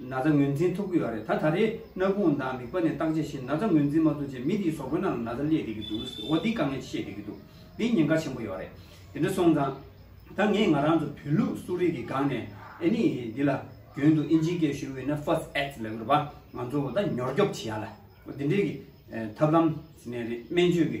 ན་ཚ་ངོས་འཛིན་ཐུབ་ཀྱི་ཡོད་རེད་ད་ད་རེས་སྣ་ཁུང་དང་མིག་པ་ནས་བརྟག་དཔྱད་བྱེད་ན་ཚ་ངོས་འཛིན་མ་ཐུབ་རྗེས་མི་དེའི་ཟོག་པོའི་ནང་ལ་ན་ཚ་བསླེས་བསྡད་ཀྱི་འདུག་ཟེར་བ་འདི་དཀའ་ངལ་ཆེ་བསྡད་ཀྱི་འདུག་འདི་ཉེན་ཁ་ཆེན་པོ་ཡོད་རེད་དེ་འདྲ་སོང་ཙང། ད་ངས་ང་རང་ཚོ་བོད་ལུགས་གསོ་རིག་གི་སྒང་ནས་ཨེ་ནི་འདི་ལ་རྒྱུན་དུ་ཨིན་ཇིའི་སྐད་ཤོད་འོས་ན First Aid ལས་དགོས་པ་ང་ཚོ་ད་ཉོར་སྐྱོབ་བྱེད་ཡ་ལ་འོ་འདི་འདྲའི་གི་ཐབས་ལམ་ཟེར་ནས་རེད་སྨན་བཅོས་གི་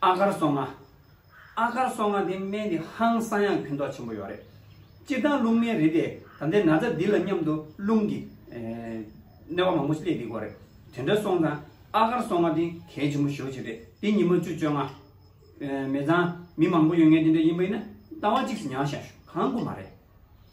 ཨ་དཀར་སོ་ལྔ། ཨ་དཀར་སོ་ལྔ་དེ་སྨན་དེ་ཧང་སང་ཡང་ཁྱོད་ཐོག་ཆེན་པོ་ཡོད་རེད། སྤྱིར་བཏང་རླུང་སྨན་རིལ་དེ་ད་ལྟའི་ན་ཚ་འདི་ལ་མཉམ་དུ་རླུང་གི་གནོད་པ་མང་པོ་སླེབས་ཡི་དགོས་རེད། དེ་འདྲ་སོང་ཙང་ཨ་དཀར་སོ་ལྔ་དེ་གལ་ཆེན་པོ་ཞོ་ཅིག་རེད་དེ་ཉི་མ་བཅུ་བཅོ་ལྔ། མེ་ཚང་མི་མང་པོ་ཡོད་ངེས་དེ་འདྲ་ཡིན་པ་ཡིན་ན་རྟ་བ་གཅིག་སུ་ཉར་བཞག་ཞོ་གང་དགོས་མ་རེད།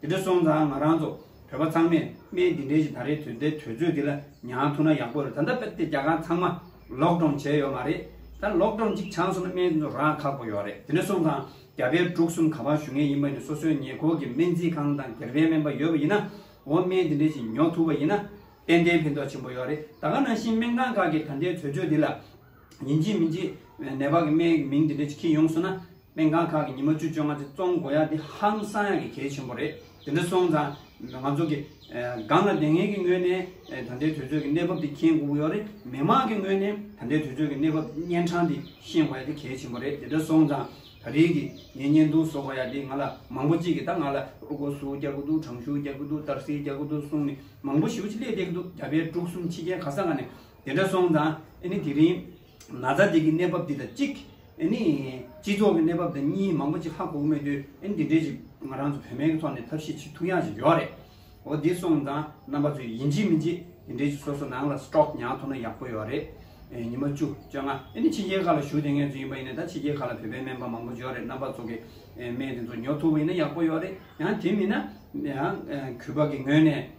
དེ་འདྲ་སོང་ཙང་ང་རང་ཚོ་བོད་པ་ཚང་མས་སྨན་དེ་འདྲའི་ཞིག་ད་རེས་དོན་དེ་དོལ་ཚོས་དེ་ལ་མྱངས་ཐུབ་ན་ཡག་པོ་རེད་ད་ལྟ་དཔེར་བལྟས་རྒྱ་གར་ཚང་མ་ལོག་འགྲོམ་བྱས་ཡོད་མ་རེད་ད་ལོག་འགྲོམ་གཅིག་བྱང་སོང་ན་སྨན་དེ་ཚོ་རག་ཁག་པོ་ཡོད་རེད་དེ་འདྲ་སོང་ཙང་རྒྱ་བལ་འབྲུག་གསུམ་ག་པར་ཞུ་ངེས་ཡིན་པ་ནི་སོ་སོའི་ཉེ་འཁོར་གྱི་སྨན་རྩིས་ཁང་དང་སྒེར་པའི་སྨན་པ་ཡོད་པ་ཡིན་ན་འོ་སྨན་དེ་འདྲའི་ཞིག་ཉོ་ཐུབ་པ་ཡིན་ན་ཏན་ཏན་ཕན་ཐོག་ཆེན་པོ་ཡོད་རེད་ད་ག་ནང་བཞིན་སྨན་ཁང་ཁག་གིས་ད་ལྟའི་དོལ་ཚོས་དེ་ལ། ཉིན་གཅིག་མི་གཅིག་ནད་པ་གི་སྨན་གི་མིང་དེ་འདྲས་ཅིག་ཁྱེད་ཡོང་སོང་ན། སྨན་ཁང་ཁག་གི་ཉི་མ་བཅུ་བཅོ་ལྔ་ཚེ་བཙོང་དགོས་ཡ་དེ་ཧང་སང་ཡ་གི་གལ་ཆེན་པོ་རེད་དེ་འདྲ་སོང་ཙང་ང་ཚོ་གི། སྒང་ལ་དེ་ངེས་ཀྱི་ངོས་ནས་ད་ལྟའི་དུས་ཚོད་ཀྱི་གནས་བབ་དེ་མཁྱེན་དགོས་ཀྱི་ཡོད་རེད་མི་དམངས་ཀྱི་ངོས་ནས་ད་ལྟའི་དུས་ཚོད་ཀྱི་གནས་བབ་གཉན་འཕྲང་དེ་ཤེས་དགོས་ཡ་དེ་གལ་ཆེན་པོ་རེད་དེ་འདྲ་སོང་ཙང་ད་རེས་ཀྱི་ངའི་བརྙན་ཐུང་བཟོ་དགོས་ཡ་དེ་ང་ལ་མང་པོ་གཅིག་གི་ད་ང་ལ་ཨུ་གོ་སུའུ་རྒྱག་གི་འདུག་དྲང་ཤུའུ་རྒྱག་གི་འདུག་ཏར་སེའི་རྒྱག་གི་འདུག་གསུངས་ནས་མང་པོ་ཞིག་ཅིག་སླེབས་བསྡད་ཀྱི་འདུག་རྒྱ་བལ་འབྲུག་གསུམ་ཕྱི་རྒྱལ་ག་ས་ག་ནས་དེ་འདྲ་སོང་ཙང་ཨཱ་ནི་དེ་རིང། ན་ཚ་འདི་གི་གནས་བབ་འདི་དང་གཅིག། ཨཱ་ནི། སྤྱི་ཚོགས་ཀྱི་གནས་བབ་དང་གཉིས་མང་པོ་ཅིག་ཧ་གོ་མེད་དུས་ཨཱ་ནི་དེ་འདྲའི་ཞིག་ང་རང་ཚོ་བོད་སྨན་གྱི་ཐོག་ནས་ཐབས་ཤེས་ཆེ་ཐུགས་ཡག་ཅིག་ཡོད་རེད། འོ་དེ་སོང་ཙང་རྣམ་པ་ཚོས་ཡིན་གཅིག་མིན་གཅིག་དེ་འདྲའི་ཞིག་སོ་སོ་ནང་ལ Stock ཉག་ཐོག་ན་ཡག་པོ་ཡོད་རེད། ཉི་མ་བཅུ་བཅོ་ལྔ་ཨཱ་ནི་ཕྱི་རྒྱལ་ཁག་ལ་ཞུགས་དེ་ངལ་ཚུལ་ཡིན་པ་ཡིན་ན་ད་ཕྱི་རྒྱལ་ཁག་ལ་བོད་པའི་སྨན་པ་མང་པོ་འབྱོར་རེད་རྣམ་པ་ཚོ་གི་སྨན་དེ་ཚོ་ཉོ་ཐུབ་པ་ཡིན་ན་ཡག་པོ་ཡོད་རེད་ཡང་དེ་མིན་ན། ཡང་གུས་པ་གི་ངོས་ནས།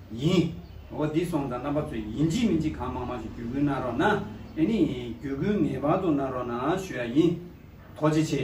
ཡིན། འོ་འདི་སོང་དང་རྣམ་པ་ཚོས་ཡིན་གཅིག་མིན་གཅིག་གང་མང་མང་ཞིག་བརྒྱུད་སྐུལ་གནང་རོགས་གནང། ཨེ་ནི། བརྒྱུད་སྐུལ་ངེས་པར་དུ་གནང་རོགས་གནང་ཞུ་ཡ་ཡིན། ཐོག་བརྗེ་ཆེ།